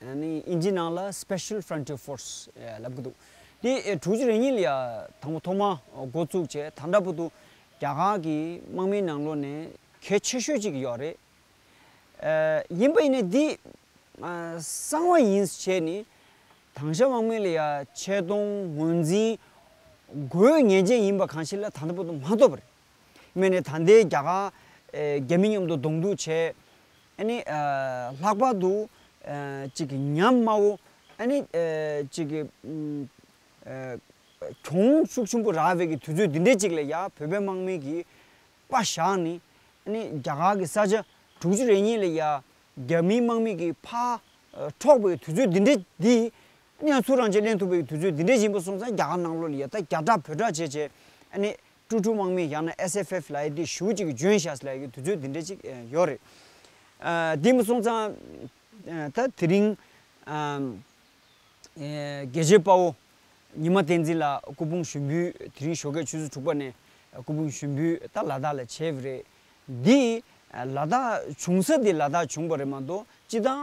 དབྱིན་ཇིའི་ནང་ལ Special Frontier Force ལབ་ཀྱི་འདུག་དེ་དྲུག་ཅུ་རེ་གཉིས་ལ་དང་པོ་ཐོག་མ་འགོ་བཙུགས་བྱས་ད་འདྲ་པོ་འདུག་རྒྱ་གར་གྱི་དམག་མིའི་ནང་ལོ་ནས་གལ་ཆེ་ཤོས་གཅིག་ཡོད་རེད། ཡིན་པ་ཡིན་ནས་འདི་གསང་བ་ཡིན་བྱས་ནས་དང་ཤ་དམག་མི་ལ་ཡ་ཆད་གཏོང་ངོས་འཛིན་དགོས་ངེས་ཅན་ཡིན་པ་གང་ཞིག་ལ་ད་འདྲ་པོ་འདུག་མ་འཐོབ་རེད། སྨད་ནས་ད་ལྟའི་རྒྱ་གར། རྒྱ་མི་མཉམ་དུ་གདོང་གཏུག་བྱས། ཨཱ་ནི། ལྷག་པར་དུ། གཅིག་གི་ཉམས་དམའ་བོ། ཨཱ་ནི། གཅིག་གི། གྱོང་ཤུགས་ཆེན་པོ་རག་བའི་གི་དུས་ཚོད་འདི་འདྲའི་གཅིག་ལ་ཡ་བོད་པའི་དམག་མི་གིས། པ་བཞག་ནི། ཨཱ་ནི། རྒྱ་གར་གི་ས་ཆ་དྲུག་ཅུ་རེ་གཉིས་ལ་ཡ། རྒྱ་མིའི་དམག་མི་གིས་ཕ། འཕྲོག་པའི་དུས་ཚོད་འདི་འདྲའི་འདི། ཨཱ་ནི་ཡང་ཚུར་རང་ཆས་གླེང་ཐུབ་པའི་གི་དུས་ཚོད་འདི་འདྲའི་ཞིག་ཡིན་པ་སོང་ཙང་རྒྱ་གར་ནང་ལོགས་ལ་ཡ་ད་རྒྱ་གྲགས་བོད་གྲགས་བྱས་བྱས། ཨཱ་ནི། ཀྲུའུ་ཀྲུའུ་དམག་མི་ཡང་ན SFF ལ་ཡི་དེ་ཞུ་གཅིག་ཇོན་ཤཱས་ལ་ཡི་དུས་ཚོད་འདི་འདྲ་གཅིག་ཡོད་རེད། འདི་མ་སོང་ཙང། ད་དེ་རིང། དགེ་བཤེས་དཔའ་བོ་ཉི་མ་བསྟན་འཛིན་ལགས་སྐུ་ཕུང་ཞུ་འབུལ་དེ་རིང་ཞོགས་སྐད་ཆུ་ཚོད་དྲུག་པ་ནས་སྐུ་ཕུང་ཞུ་འབུལ་ད་ལ་དྭགས་ལ་བྱས་པ་རེད། འདི་ལ་དྭགས་བྱུང་ས་འདི་ལ་དྭགས་བྱུང་པ་རེད་མ་གཏོགས་སྤྱི་བཏང་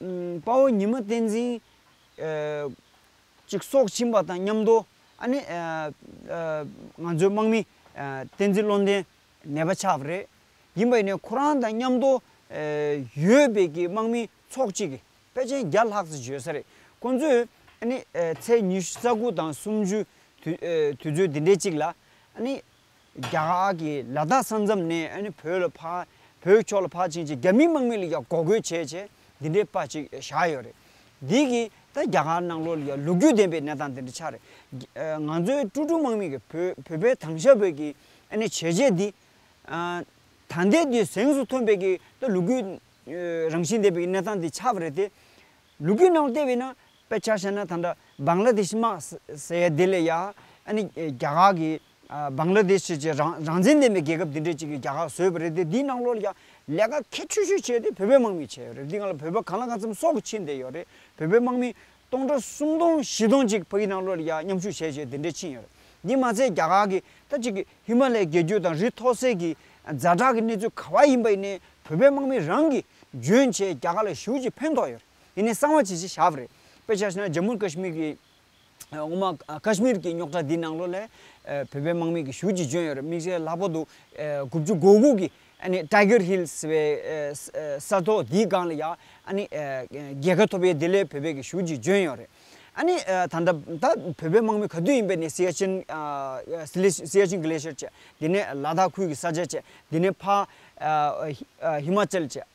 དཔའ་བོ་ཉི་མ་བསྟན་འཛིན། ཅིག་སྲོག་བྱིན་པ་དང་མཉམ་དུ། ཨ་ནི། ང་ཚོའི་དམག་མི། བསྟན་འཛིན་བློ་ལྡན། ནད་པ་ཆགས་པ་རེད། ཡིན་པ་ཡིན་ནའི་ཁོ་རང་དང་མཉམ་དུ། ཡོད་པའི་གི་དམག་མི་ཚོགས་གཅིག་གི་དཔེ་ཅན་བརྒྱ་ལྷག་ཙི་བྱོས་ས་རེད། ཁོང་ཚོས། ཨ་ནི། ཚེས་ཉི་ཤུ་རྩ་དགུ་དང་སུམ་ཅུའི། དུས་ཚོད་འདི་འདྲའི་གཅིག་ལ། ཨ་ནི། རྒྱ་གར་གྱི་ལ་དྭགས་ས་མཚམས་ནས་ཨ་ནི་བོད་ལ་ཕ། བོད་ཕྱོགས་ལ་ཕར་ཕྱིན་ཅིག་རྒྱ་མི་དམག་མི་ལ་ཡང་འགོག་རྒོལ་བྱས་བྱས་འདི་འདྲའི་དཔའ་ཅིག་བཞག་ཡོད་རེད། འདི་གི་ད་རྒྱ་གར་ནང་ལོ་ལ་ཡང་ལོ་རྒྱུས་ལྡན་པའི་གནས་སྟངས་འདི་འདྲ་ཆགས་རེད། ང་ཚོའི་སྤྲུ་གྲུ་དམག་མི་གིས་བོད་བོད་པའི་དང་ཞབས་བོད་ཀྱི་ཨ་ནི་བྱས་རྗེས་འདི། ད་ལྟའི་དུས་གཟེངས་སུ་ཐོན་པའི་གི་ད་ལོ་རྒྱུས་རང་བཞིན་ལྡན་པའི་གི་གནས་སྟངས་འདི་ཆགས་པ་རེད་དེ། ལོ་རྒྱུས་ནང་བལྟས་པས་ན་དཔེ་ཆ་བཤད་ན་ད་འདྲ་བཱང་ལ་དེ་ཤི་དམག་ཟེར་ཡ་དེ་ལ་ཡང་ཨ་ནི་རྒྱ་གར་གྱི་སྦང་ལ་དེ་ཕྱིར་ཆེས་རང་བཙན་ལྡན་པའི་རྒྱལ་ཁབ་འདི་འདྲའི་ཅིག་གིས་རྒྱ་ཁག་བཟོས་པ་རེད་དེ་འདིའི་ནང་ལོགས་ལ་ཀྱང་ལས་ཀ་གལ་ཆེ་ཤོས་བྱས་དེ་བོད་པའི་དམག་མིས་བྱས་ཡོད་རེད་འདི་ང་ལ་བོད་པ་གང་ལ་གང་འཚམས་སྲོག་གིས་ཕྱིན་བསྡད་ཡོད་རེད་བོད་པའི་དམག་མི་སྟོང་ཕྲག་སུམ་སྟོང་བཞི་སྟོང་ཅིག་ཕ་གིའི་ནང་ལོགས་ལ་ཀྱང་མཉམ་ཞུགས་བྱས་བྱས་དེ་འདྲས་ཕྱིན་ཡོད་རེད་འདི་མ་ཚད་རྒྱ་གར་གྱི་ད་ཅིག་གི་ཧི་མ་ལའི་རྒྱལ་རྒྱུད་དང་རི་མཐོ་སའི་གི་རྫ་བྲག་གི་གནས་ཚུལ་ག་བ་ཡིན་པ་ཡིན་ནའི་བོད་པའི་དམག་མིས་རང་གིས་འཇོན་བྱས་རྒྱ་གར་ལ་ཞུགས་ཀྱིས་ཕན་ཐོགས་ཡོད་རེད་འདི་ནས་གསང་བ་ཇི་བཞིན་བཞག་པ་རེད་དཔེ་ཆ་ཞིག་ན་ཇམ་མུ་ཨེར་ཀ་ཤི་མིར་གྱི། ངོ་མ་ཀཱ་ཤི་མིར་གྱི་རྙོག་དྲ་འདིའི་ནང་ལོགས་ལས། བོད་པའི་དམག་མི་གྱི་ཞུགས་ཀྱིས་བྱོན་ཡོད་རེད་དམིགས་བསལ་ལྷག་པར་དུ། དགུ་བཅུ་གོ་དགུ་གི། Tiger Hill། ཟེར་བའི། ས་ཐོག་དེའི་སྒང་ལ་ཡང། རྒྱལ་ཁ་ཐོབ་ཡས་དེ་ལས་བོད་པའི་གྱི་ཞུགས་ཀྱིས་བྱོན་ཡོད་རེད། ད་ལྟ་ད་བོད་པའི་དམག་མི་ག་དུས་ཡིན་པའི་ནས་སི་ཡ་ཆིན། Siachen Glacier། བཅས་དེ་ནས་ལ་དྭགས་ཁུལ་གྱི་ས་ཆ་བཅས་དེ་ནས་ཕ། ཧི་མ་ཅལ་བཅས།